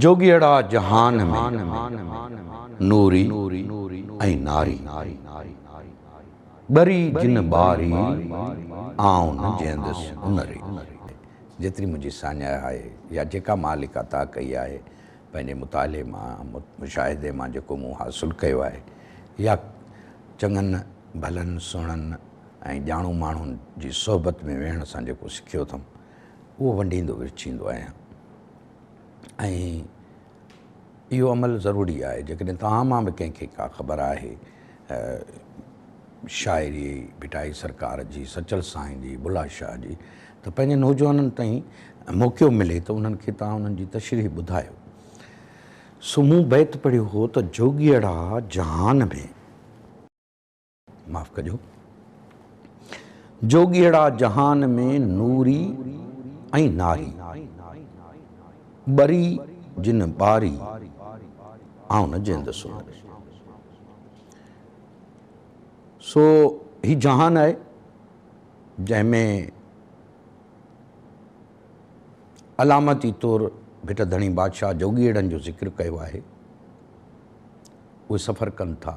جوڳيئڙا جهان ۾، نوري ۽ ناري، ٻري جن ٻاري، آئون نه جيندس انري. جيتري منهنجي ساڃاهه آهي يا جيڪا مان لکا تاء ڪئي آهي، پنهنجي مطالعي مان، مشاهدي مان جيڪو مون حاصل ڪيو آهي يا چڱن ڀلن سهڻن ۽ ڄاڻو ماڻهن جي صحبت ۾ ويهڻ سان جيڪو سکيو اٿم، اهو ونڊيندو ورڇيندو آهيان. ۽ اهو عمل ضروري آهي جيڪڏهن توهان مان به ڪنهن کي ڪا خبر آهي شاعري ڀٽائي سرڪار جي، سچل سائين جي، بلا شاهه جي ته پنهنجي نوجوانن تائين موقعو ملي ته انهن کي توهان انهن جي تشريح ٻڌايو. سو مون بيت پڙهيو هو ته جوڳيئڙا جهان ۾. معاف ڪجو جوڳيئڙا جهان ۾ نوري ۽ ناري ٻري جن ٻاري آئون نه جيندس ان ۾ سو هي جهان آهي جنهن ۾ علامتي طور ڀٽ ڌڻي بادشاهه جوڳيئڙن جو ذڪر ڪيو آهي اهي سفر ڪن ٿا